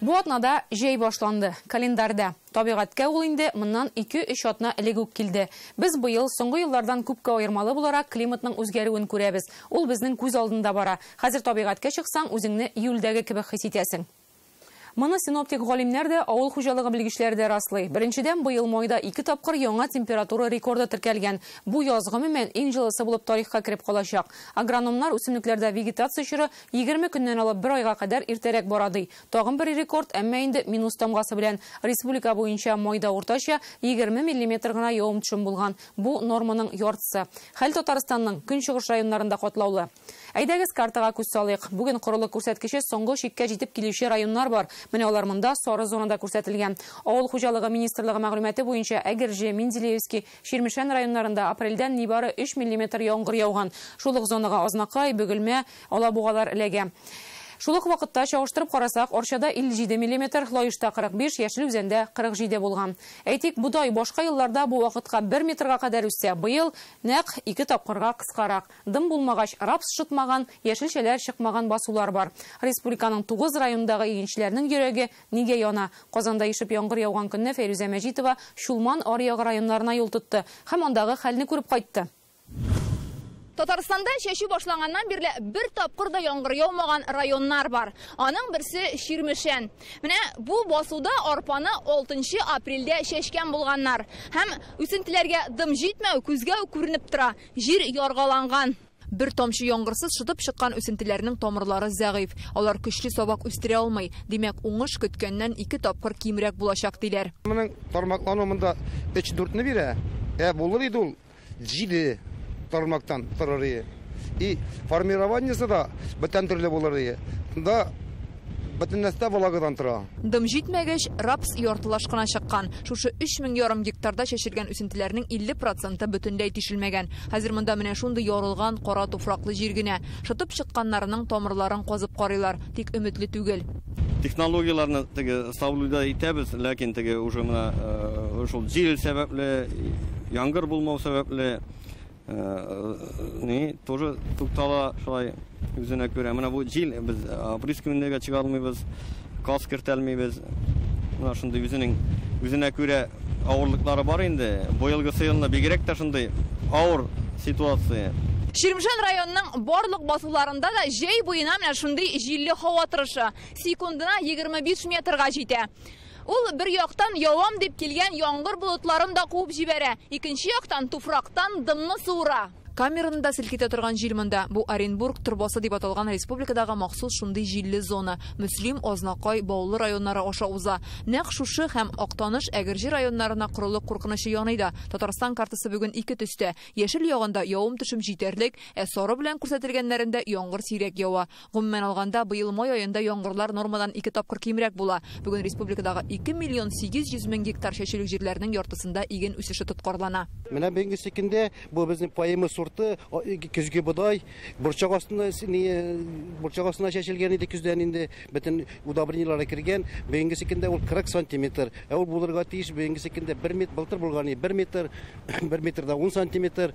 Бу атнада җәй башланды, календарьдә. Табигатькә ул инде моннан ике-өч атна элек үк килде. Без быел, соңгы еллардан күпкә аермалы буларак, климатның үзгәрүен күрәбез. Ул безнең күз алдында бара. Хәзер табигатькә чыксаң, үзеңне июльдәге кебек хис итәсең. Моны синоптик галимнәр дә, авыл хуҗалыгы белгечләре дә раслый. Беренчедән, быел майда ике тапкыр яңа температура рекорды теркәлгән. Бу яз, гомумән, иң җылысы булып тарихка кереп калачак. Агрономнар үсемлекләрдә вегетация чоры Егерме көннән алып бер айга кадәр иртәрәк бара, ди. Тагын бер рекорд, әмма инде минус тамгасы белән. Республика буенча майда уртача егерме миллиметр гына явым-төшем булган. Бу, норманың яртысы. Хәл Татарстанның көнчыгыш районнарында катлаулы. Әйдәгез, картага күз салыйк. Бүген корылык күрсәткече соңгы чиккә җитеп килүче районнар бар. Менә алар монда сары зонада күрсәтелгән. Авыл хуҗалыгы министрлыгы мәгълүматы буенча, Әгерҗе, Менделеевский, Чирмешән районнарында апрельдән нибары өч миллиметр яңгыр яуган. Шул ук зонага Азнакай, Бөгелмә, Алабугалар эләгә. Шул ук вакытта, чагыштырып карасак, Арчада 57 миллиметр, Лаешта 45, Яшел Үзәндә 47 булган. Әйтик, бодай башка елларда бу вакытка бер метрга кадәр үссә, быел, нәкъ ике тапкырга кыскарак. Дым булмагач, рапс шытмаган, яшелчәләр чыкмаган басулар бар. Республиканың тугыз районындагы игенчеләрнең йөрәге Нигә яна? Казанда ешып яңгыр яуган көнне Фәйрүзә Мәҗитова Чулман, Аръягы районнарына юл тотты һәм андагы хәлне күреп кайтты. Татарстанда чәчү башланганнан бирле бер тапкыр да яңгыр яумаган районнар бар. Аның берсе, Чирмешән. Менә бу басуда арпаны алтынчы апрельдә чәчкән булганнар. Һәм үсентеләргә дым җитмәү күзгә үк күренеп тора, җир яргаланган. Бер тамчы яңгырсыз шытып чыккан үсентеләрнең тамырлары зәгыйфь, алар көчле сабак үстерә алмый, димәк, уңыш көткәннән ике тапкыр кимрәк булачак, диләр. Моның тармаклану монда өч-дүртне бирә, ә булыр иде ул җиде тармактан торыр ие. И формированиесе да бүтән төрле булыр ие. Монда. Бөтен нәрсә дә влагадан тора. Дым җитмәгәч, рапс яртылаш кына чыккан. Шушы өч мең ярым гектарда чәчелгән үсентеләрнең 50 проценты бөтенләй тишелмәгән. Хәзер монда менә шундый ярылган, кара туфраклы җир генә. Шытып чыкканнарының тамырларын казып карыйлар, тик өметле түгел. Технологияләрне теге саблюда итәбез, ләкин теге уже менә шул җил сәбәпле, яңгыр булмау сәбәпле, Ни, тоже туктала шулай үзенә күрә. Менә бу җил без опрыскиваниегә чыга алмыйбыз, газ кертә алмыйбыз. Менә шундый үзенең үзенә күрә авырлыклары бар инде. Быелгы сыелны бигрәк тә шундый авыр ситуация. Чирмешән районының барлык басуларында да җәй буена менә шундый җилле һава торышы, секундына 25 метрга җитә. Ул, бер яктан, явам дип килгән яңгыр болытларын да куып җибәрә, икенче яктан, туфрактан дымны суыра. Камераны да селкетә торган җил монда. Бу Оренбург торбасы дип аталган республикадагы махсус шундый җилле зона, Мөслим, Азнакай, Баулы районнары аша уза. Нәкъ шушы һәм Актаныш, Әгерҗе районнарына корылык куркынычы яный да. Татарстан картасы бүген ике төстә. Яшел ягында явым-төшем җитәрлек, ә сары белән күрсәтелгәннәрендә яңгыр сирәк ява. Гомумән алганда, быел май аенда яңгырлар нормадан ике тапкыр кимрәк була. Бүген республикадагы 2 миллион 800 мең гектар чәчүлек җирләрнең яртысында иген үсеше тоткарлана. Менә бүгенге көндә бу безнең Поэма сорты көзге бодай, борчак астына борчак астына чәчелгән иде көздән инде, бөтен удобрениеләре кергән. Бүгенге көндә ул 40 сантиметр, ә ул булырга тиеш бүгенге көндә бер метр, былтыр булган иде бер метр, бер метр да ун сантиметр.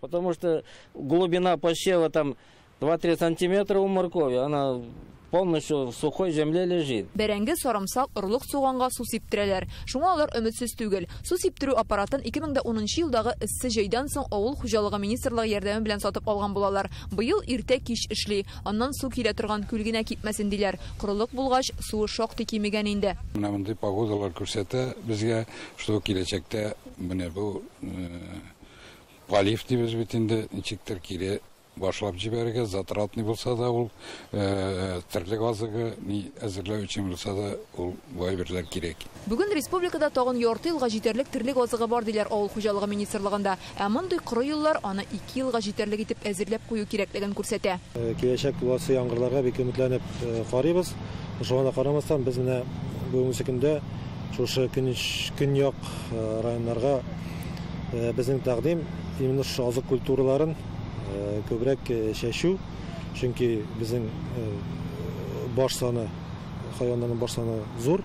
Потому что глубина посева там 2-3 сантиметра у моркови, она полностью в сухой земле лежит. Бәрәңге, сарымсак, орлык суганга су сиптерәләр. Шуңа алар өметсез түгел. Су сиптерү аппаратын 2010 елдагы эссе җәйдән соң авыл хуҗалыгы министрлыгы ярдәме белән сатып алган булалар. Быел иртә кич эшли. Аннан су килә торган күл генә кипмәсен диләр. Корылык булгач, суы шактый кимегән инде. Менә мондый погодалар күрсәтә безгә, что киләчәктә менә бу э, Галиф дибез бит инде, ничектер кире башлап җибәрергә, затратный булса да ул, терлек азыгы ни әзерләү өчен булса да ул бай берләр кирәк. Бүген республикада тагын ярты елга җитәрлек терлек азыгы бар, диләр Авыл хуҗалыгы министрлыгында. Ә мондый коры юллар аны ике елга җитәрлек итеп әзерләп кую кирәклеген күрсәтә. Киләчәк буласы яңгырларга бик өметләнеп карыйбыз. Шуңа да карамастан, без менә бүгенге көндә, Шушы көнч көньяк районнарга безнең тәкъдим именно шушы азык культураларын күбрәк чәчү, чөнки безнең баш саны хайваннарның баш саны зур,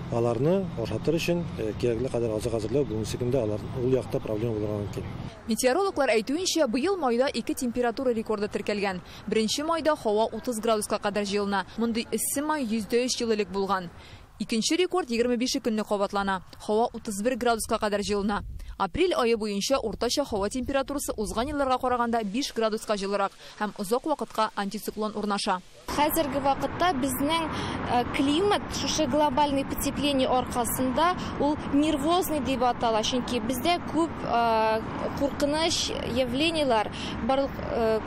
аларны ашатыр өчен кирәкле кадәр азык әзерләү бүгенге көндә алар ул якта проблема булырга мөмкин. Метеорологлар әйтүенчә, быел майда ике температура рекорды теркәлгән. Беренче майда һава 30 градуска кадәр җылына, мондый эссе май 103 ел элек булган. Икенче рекорд егерме бише көнне кабатлана, һава 31 градуска кадәр җылына. Апрель ае буенча уртача һава температурасы узган елларга караганда биш градуска җылырак һәм озак вакытка антициклон урнаша. Хәзерге вакытта безнең климат шушы глобальный потепление аркасында ул нервозный дип атала, чөнки бездә күп куркыныч явлениеләр барлык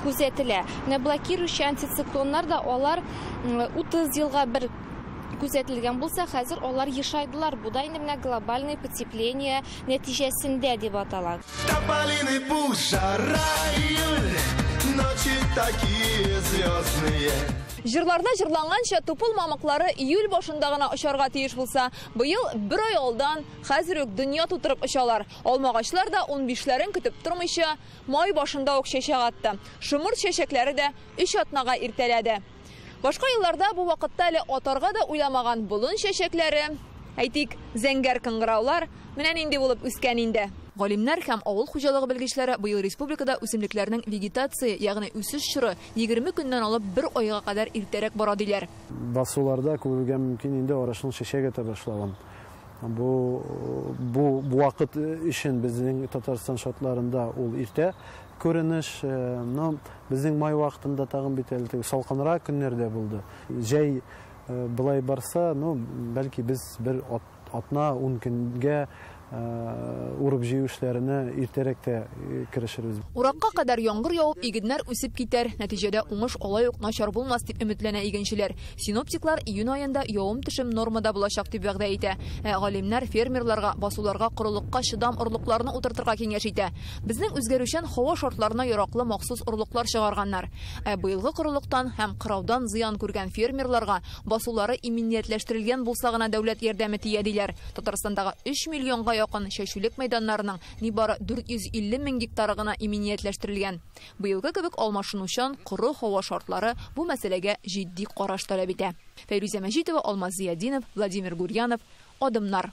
күзәтелә. Менә блокирующий антициклоннар да алар 30 елга бер. күзәтелгән булса, хәзер алар ешайдылар, бу да инде менә глобальный потепление нәтиҗәсендә дип атала. Тополиный пух, жара июль, ночи такие звездные. Җырларда җырланганча, тупыл мамыклары июль башында гына очарга тиеш булса, быел бер ай алдан, хәзер үк дөнья тутырып очалар. Алмагачлар да унбишләрен көтеп тормыйча, май башында ук чәчәк атты. Шомырт чәчәкләре дә өч атнага иртәләде. Башка елларда бу вакытта әле атарга да уйламаган болын чәчәкләре, әйтик, зәңгәр кыңгыраулар менә нинди булып үскән инде. Галимнәр һәм авыл хуҗалыгы белгечләре быел республикада үсемлекләрнең вегетация, ягъни үсеш чоры егерме көннән алып бер айга кадәр иртәрәк бара, диләр. Басуларда күрергә мөмкин инде арышның чәчәк ата башлавын. Бу бу вакыт өчен безнең Татарстан шартларында ул иртә. Күренеш, но безнең май вакытында тагын бит әле теге салкынрак көннәр дә булды. Җәй былай барса, ну, бәлки без бер атна, ун көнгә урып җыю эшләренә иртәрәк тә керешербез. Уракка кадәр яңгыр явып, игеннәр үсеп китәр, нәтиҗәдә уңыш алай ук начар булмас, дип өметләнә игенчеләр. Синоптиклар июнь аенда явым-төшем нормада булачак, дип вәгъдә итә. Ә галимнәр фермерларга басуларга корылыкка чыдам орлыкларны утыртырга киңәш итә. Безнең үзгәрүчән һава шартларына яраклы махсус орлыклар чыгарганнар. Ә быелгы корылыктан һәм кыраудан зыян күргән фермерларга басулары иминиятләштерелгән булса гына дәүләт ярдәме тия, диләр Татарстандагы 3 миллионга якын чәчүлек мәйданнарының нибары 450 мең гектары гына иминиятләштерелгән. Быелгы кебек алмашынучан коры һава шартлары бу мәсьәләгә җитди караш таләп итә. Фәйрүзә Мәҗитова, Алмаз Зыятдинов, Владимир Гурьянов, Адымнар.